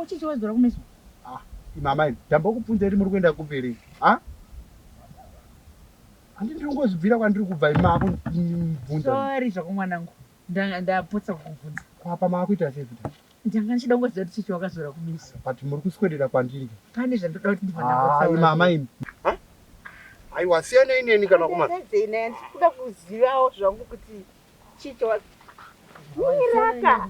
chichi waidzora kumeso ah, mama imi ndambokubvunza iri muri kuenda kupiri ah? handindiringozvibvira kwandiri kubva imako ndibvunza sorry zvako mwanangu Ndanga ndapotsa kukubvunza. Ko apa maakuita sei futi apa? Ndanga ndichida kungoziva kuti Chichi wakazora kumeso. But muri kuswedera kwandiri ka. Pane zvandoda kuti ndibva ndambotaura Haa imi amai imi. Huh? Aiwa siyanei neni kana kuma. Ndisedzei naye ndikuda kuzivawo zvangu kuti Chichi wa. Miraka.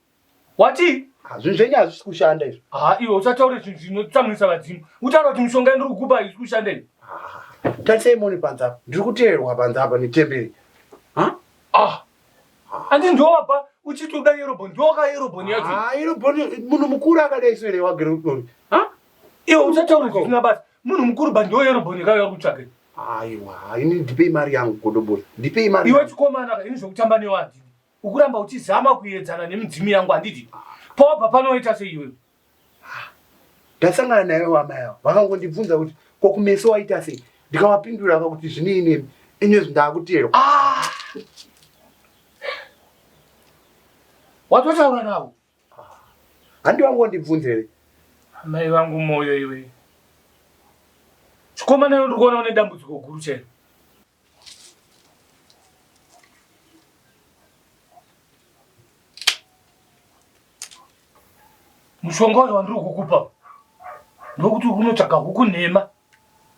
Wati? Hazvinhu zvenyu hazvisi kushanda izvo. Ha, iwe usataure zvinhu zvinotsamwisa vadzimu. Utaura kuti mishonga yandiri kukupa haisi kushanda izvo. Tarisai mone panze apa. Ndiri kuteerwa panze apa netemberi. Ha? Ah. Andi ndovapa uchiti uda Yerobhoni. Ndoka Yerobhoni yacho. Ah, Yerobhoni munhu mukuru akadai so here wagere kudoni. Ha? Iwe usataure zvisina basa. Munhu mukuru ba ndo Yerobhoni kaiwa kutsvake. Aiwa, ini ndipei mari yangu godobori. Ndipei mari. Iwe chikomana ka ini zvokutamba newadhi. ukuramba uchizama kuyedzana nemidzimu yangu handiti pawabva panoita seiwe ndasangana naye wama yavo vakangondibvunza kuti ko kumeso waita sei ndikavapindura ka kuti zvinei nemi inyezvi ndaakuteerwa ah! watotaura navo handi vangondibvunzere amai vangu moyo iwe chikomana yo ndikuona une dambudziko guru chero mushonga uyo wandiri kukupa ndokuti unotsvaga huku nhema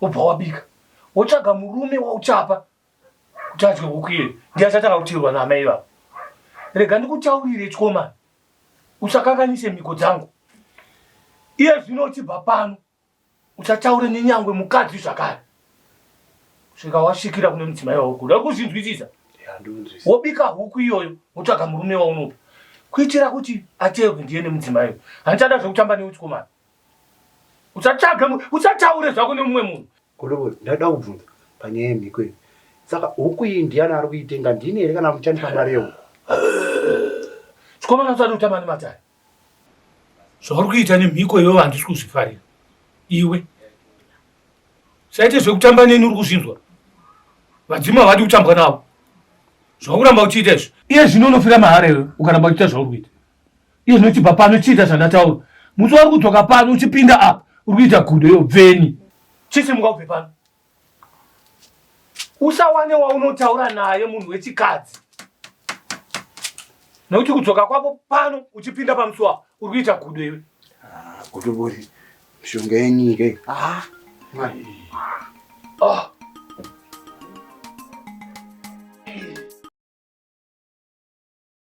wobva wabika wotsvaga murume wauchapa kuti adye huku iye ndiachatanga kutirwa naamai vavo rega ndikutaurire chikomana usakanganise mhiko dzangu iye zvino uchibva pano uchataure nenyangwe mukadzi zvakare svika wasvikira kune mudzimai waurikuda uri kuzvinzwisisa wobika huku iyoyo wotsvaga murume waunopa kuitira kuti ateerwe ndiye nemudzimai uyo handichada zvekutamba neuchikomana uchatsvage uchataure zvako nemumwe munhu kolovo ndada kubvunza panyaya yemhiko iyi saka huku iyi ndiyani ari kuitenga ndini here kana muchandipa mari yehuku chikomana usati utamba nematare zvauri kuita nemhiko iyoyo handisi kuzvifarira iwe saite zvekutamba neni uri kuzvinzwa vadzima havadi kutambwa navo zvauramba uchiita izvi iye zvino unofira mahara iwe ukaramba uchiita zvauri kuita iye zvino chibva pano chiita zvandataura musi wari kudzoka pano uchipinda apa uri kuita gudo iyo bveni chisimuka ubve pano usawane waunotaura naye munhu wechikadzi nokuti kudzoka kwako pano uchipinda pamusuwa uri kuita gudo iwe ah, gudobori mishonga yenyika iyi ah, ah.